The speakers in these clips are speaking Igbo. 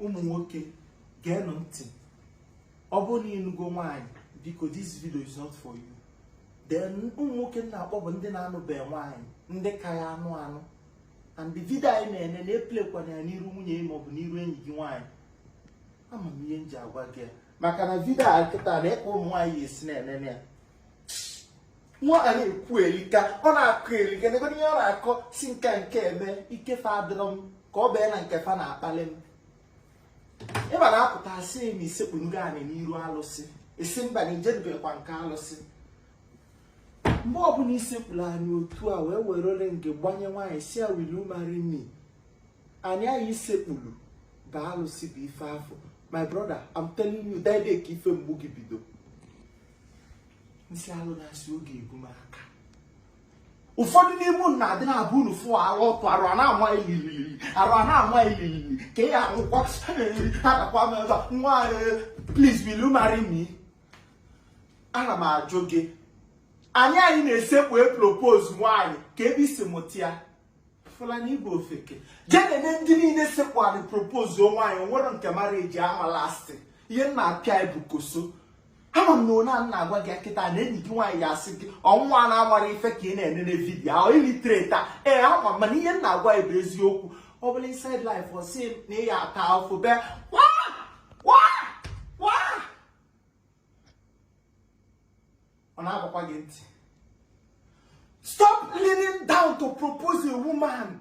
ụmụ nwoke geenụ ntị ọ bụrụ na ịnụgo nwaanyị biko this video is not for you then ụmụ nwoke m na-akpọ bụ ndị na-anụbeghị nwaanyị ndị ka ya anụ anụ and the video anyị na-ene na-eplekwana ya n'iru nwunye gị maọbụ n'iru enyi gị nwaanyị ama m ihe m ji agwa gị ya maka na vidio a kịta na ịkpọ ụmụ nwaanyị esi na-enene ya nwa a na-ekwu elika ọ na-akọ elika n'ebe ihe ọ na-akọ si nke nke eme ike fa adịrọ m ka ọ bụ na nke fa na-akpali m ịba na-apụta asị na isekpunugo anị n'iru alụsị ị sị mba na ijedubekwa nke alụsị mgbe ọbụla isekpuru anị otu a wee were ring gbanye nwaanyị sị ya will you marry me anị anị isekpuru ga alụsị bụ ife afụ my brother I'm telling you that day ka ife mgbu gị bido nsị alụ na-asị oge ebu m aka ụfọdụ n'ime unu na-adị na-abụ unu fụ arụ ọtụ arụ a na-ama ililili arụ a na-ama ililili ka ị anwụkwa adakwa m ebe nwa please will you marry me ana m ajụ gị anị a ị na-esekpu e propose nwaanyị kee ebe i si mụta ya Fulani Igbo ofeke jee nene ndị niile sekpu anị propose nwaanyị o nwere nke marriage ama last ihe m na-apịa bụ koso ama m na onye a na-agwa gị kịta na enyi gị nwaanyị ya asị gị ọnwa na-amarọ ife ka ị na-enene vidiyo ahụ illiterate a ee ama m mana ihe m na-agwa bụ eziokwu ọ bụla inside life ọ sị na ị ya ata afụ bee ọ na-agbakwa gị ntị stop leaning down to propose a woman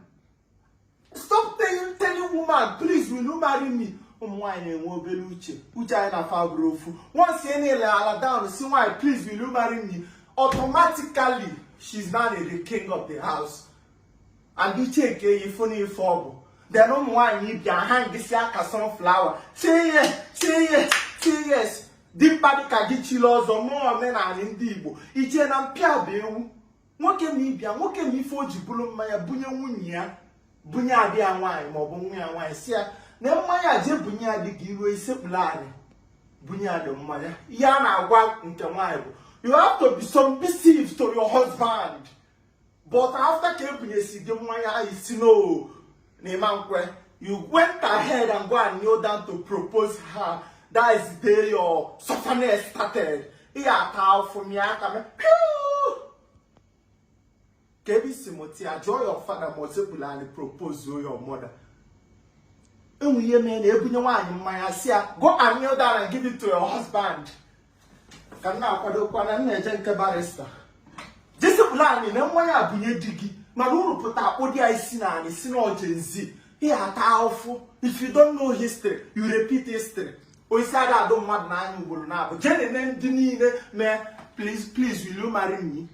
stop telling woman please will you marry me ụmụ nwaanyị na-enwe obere uche uche anyị na fa abụrọ ofu once ị kneelala down si nwaanyị please will you marry me automatically she's now the king of the house and ị checkie ya ị fụ na ife ọ bụ then ụmụ nwaanyị bịa ha ngịsị aka sunflower say yes say yes say yes dimkpa dịka gị chiri ọzọ mụọ omenala ndị igbo iche na mpịa bụ ewu nwoke m ịbịa nwoke m ife o ji buru mmanya bunye nwunye ya bunye ada ya nwaanyị maọbụ nwa ya nwaanyị sị ya na mmanya je bunye ya di gị ruo isekpuru anị bunye di gị mmanya ihe a na-agwa nke nwaanyị bụ you have to be submissive to your husband but after ka ebunyesi gị mmanya ahụ ị sị no na ị ma nkwe you went ahead and go and kneel down to propose her that is the day your suffering started ị ga-ata afụ m ya aka m kee ebe i si mụta ya jụọ your father ma o sekpulu anị propose your mother enwe ihe mee na-ebunye nwaanyị mmanya sị ya go and kneel down and give it to your husband ka m na-akwadokwa na m na-eje nke barista jee sekpulu anị ṅụa mmanya bunye di gị mana unu pụta akpụ di ya isi n'anị sị na ọ Gen Z ị ya-ata ahụfụ if you don't know history you repeat history osisi ada adụ mmadụ n'anya ugboro naabọ jee nene ndị niile mee please please will you marry me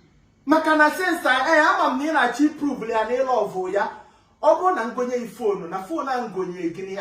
maka na sensa ee ama m na ị na-achọ iprovelụ ya na ị love ya ọ bụrụ na m gonye iPhone na phone a m gonye gịnị ya